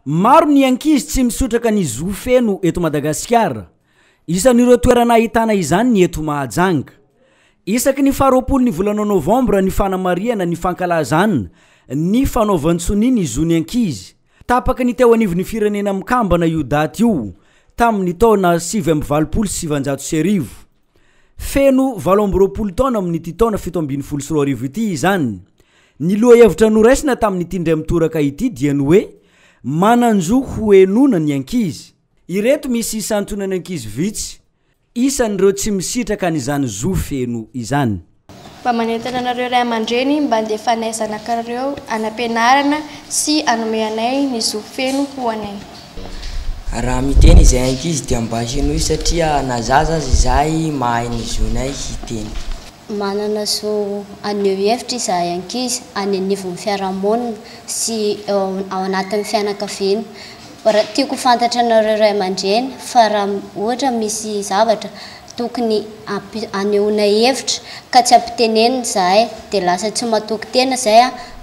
Maro ny ankizy tsy misotraka ny zo feno eto Madagasikara. Isan'ireo toerana ahitana izany ny eto Mahajanga. Isaky ny faharoapolo ny volana novambra ny fanamarihana ny fankalazan ny fanaovan-tsonia ny zon'ny ankizy. Tapaka ny teo anivon'ny Firenena Mikambana io daty io tamin'ny taona sivy amby valopolo sy sivanjato sy arivo. Feno valo amby roapolo taona amin'ity taona fito ambin'ny folo sy roa arivo ity izany. Ny lohahevitra noraisina tamin'ity indray mitoraka ity dia ny hoe Manan-jo hohenoina ny ankizy. Ireto misy isantonan'ny ankizy vitsy isan'ireo tsy misitraka an'izany zo feno izany. Mba manentana anareo ray aman-dreny mba andefanay zanakareo any am-pianarana sy anome anay ny zo feno ho anay. Raha miteny izay ankizy dia mba henoy satria na zaza aza izahay mahay ny zonay hiteny. Manana zo haneho hevitra izahay ankizy any anivon'ny fiarahamonina sy eo ao anatin'ny fianakaviana. Tiako ho fantatranareo ray aman-dreny fa raha ohatra misy zavatra tokony hanehoana hevitra ka tsy ampitenenina izahay dia lasa tsy matoky tena izay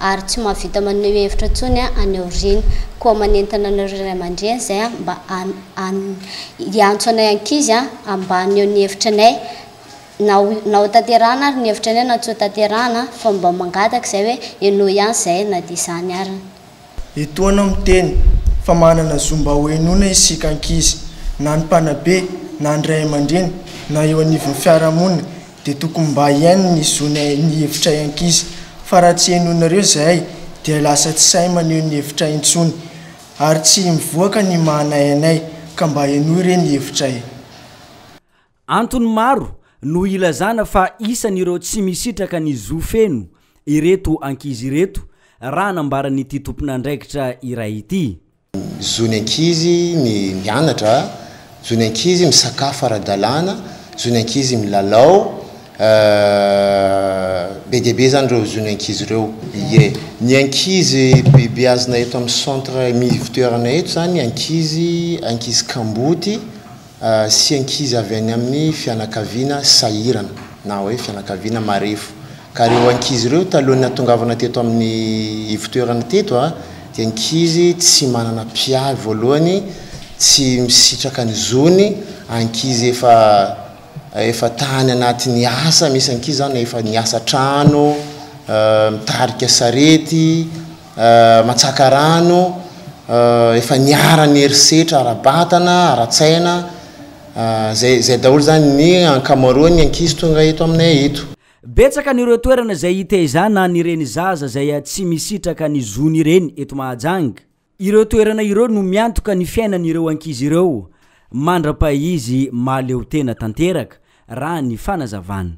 ary tsy mahavita maneho hevitra intsony any aoriana. Koa manentana anareo ray aman-dreny izay mba hiantso anay ankizy mba haneho ny hevitra anay na na ho tanterahana ary ny hevitra anay na tsy ho tanterahana fa mba mangataka izay hoe henoy ihany izay na dia izany ary. Etoana aho miteny fa manana zo mba ho henoina isika ankizy. Na ny mpanabe, na ny ray aman-dreny, na eo anivon'ny fiarahamonina dia tokony mba hihaino ny zonay ny hevitray ankizy. Fa raha tsy henoinareo izahay dia lasa tsy sahy maneho ny hevitray intsony. Ary tsy mivoaka ny maha anay anay ka mba henoy re ny hevitray. Antony maro no ilazana fa isan'ireo tsy misitraka ny zo feno ireto ankizy ireto raha nambaran'ity tompon'andraikitra iray ity. Zon'ny ankizy ny mianatra, zon'ny ankizy misakafo ara-dalàna, zon'ny ankizy milalao, be dia be izany ireo zon'ny ankizy ireo. Ie. Ny ankizy bebeazina eto amin'ny centre Mivo Toerana eto izany, ankizy ankizy kamboty. sy ankizy avy any amin'ny fianakaviana sahirana na hoe fianakaviana marefo. Ka ireo ankizy ireo talohan'ny hahatongavana teto amin'ny ivotoerana teto dia ankizy tsy manana mpiahy voalohany, tsy misitraka ny zony, ankizy efa efa tany anatin'ny asa, misy ankizy izany efa niasa an-trano, mitarika sarety. matsaka rano, efa niharan'ny herisetra ara-batana, ara-tsaina, izay izay daholo izany ny ankamaroan'ny ankizy tonga eto aminay eto. Betsaka ny ireo toerana izay hitaizana an'ireny zaza izay tsy misitraka ny zony ireny eto Mahajanga. Ireo toerana ireo no miantoka ny fiainan'ireo ankizy ireo mandra-pahizy mahaleotena tanteraka, raha ny fanazavana.